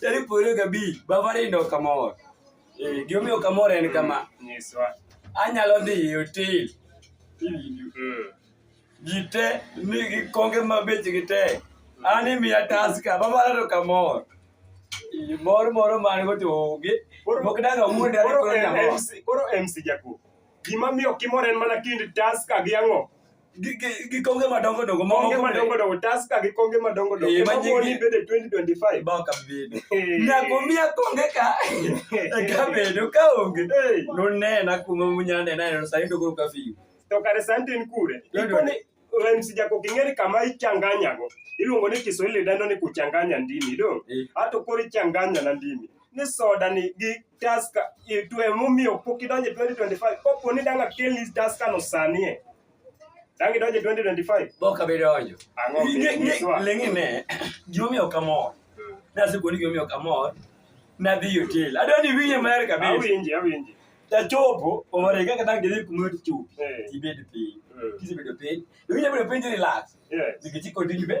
Tarik piero gabich, Bavarian ndo kamor. Eh, gimomiyo kamor en kama. Nyiswa. Anyalo dhi e hotel. Mm. Gite ni gikonge mabech gite. An imiya taska, Bavarian ndo kamor. Eh, mor moro man go to onge. Mok danga wuonde ari koro kamor. Koro MC Jakuo. Gima miyo kimor en mana kind taska gi ang'o? gi- gi- gi konge madongo dongo ma konge moko madongo be- dongo taska gi konge madongo dongo Eh, ma nyingi- moni bede 2025 bao kabedo Eh. nyako miya konge ka eka bedo ka onge Eh. nonena kuma munyanena eno sani to koro kafiyo to kare sani tin kure Lord, ikone MC jako king'eri kama ichanganyago iluongo ni kiswahili dendo ni kuchanganya ndimi do Eh. ato koro ichanganya na ndimi ni soda ni gi Tusker e to emomiyo pok idonje 2025 kopo ni danga kel ni Tusker no sanie dangi donje 2025 bok abi donjo ang'o lengi ne gimomiyo kamor hmm. nasekoni gimomiyo kamor nadhi hotel adwa ni winje maer kabisa awinje awinje tachopo omore kaka dang gidhi kuma tichup eh. tibed piny eh. kisebedo piny iwinjo bedo piny relax nikech ikodinyi be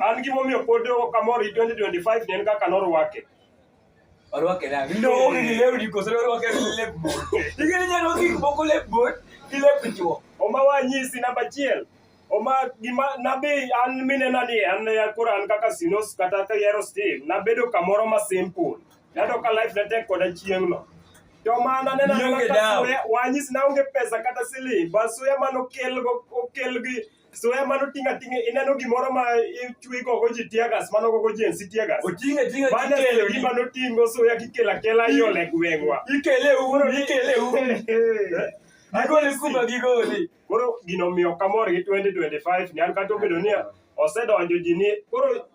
an gimomiyo pod ok amor gi 2025 ne en kaka norwake orwake nang' ndowo gi lewni koso norwake gi lep bor ing'e ni nyalo gik moko lep bor gi lep chwo oma wanyisi namba achiel oma gima nabi an minena ni an ya koro an kaka sinos kata ka yero steve nabedo kamoro ma simple nado ka life na tek koda chieng'no to mana nena Nionge kaka dawa. suya- wanyisi naonge pesa kata siling bas suya mano okel go- okel gi Suya mano tinga tinga ineno gimoro ma ichwi gogo ji tiagas mano gogo ji ensi tiagas. Otinga tinga Mano kikelo gi gima notingo suya kikela kela iole gweng'wa. ikele uru ikele uru. Agole kuma gigole. Koro gino miyo kamor gi 2025 ni an kata obedo ni osedonjo ji ni koro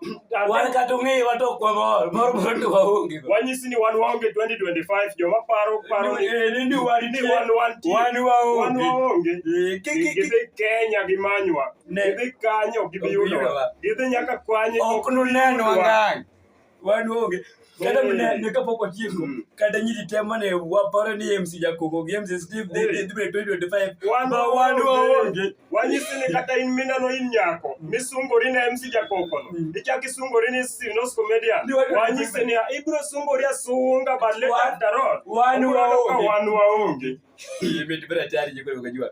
wan kata ong'eyo wato ok wamor mor mor to waonge go wanyisi ni wan waonge 2025 joma paro paro ni Eh, ni ni wan ni wan wan ti wan wan waonge waonge Eh, ki- ki- ki- gidhi Kenya gi manywa Ne. gidhi kanyo gibi Ok yudowa yudowa. gidhi nyaka kwanye ok nunenwa ngang' wan waonge kata mine ne kapok otieko mm. kata nyiri te mane waparo ni MC Jakogo gi MC Steve dhi dhi dhi 2025 ba wan waonge wanyisi ni kata in mina no in nyako mm. misungori na MC Jakogo no mm. ichak isungori ni Sinos Comedian wanyisi ni ibro sungori asunga but later after all wan waonge wan waonge imetibira tayari jikoni ukajua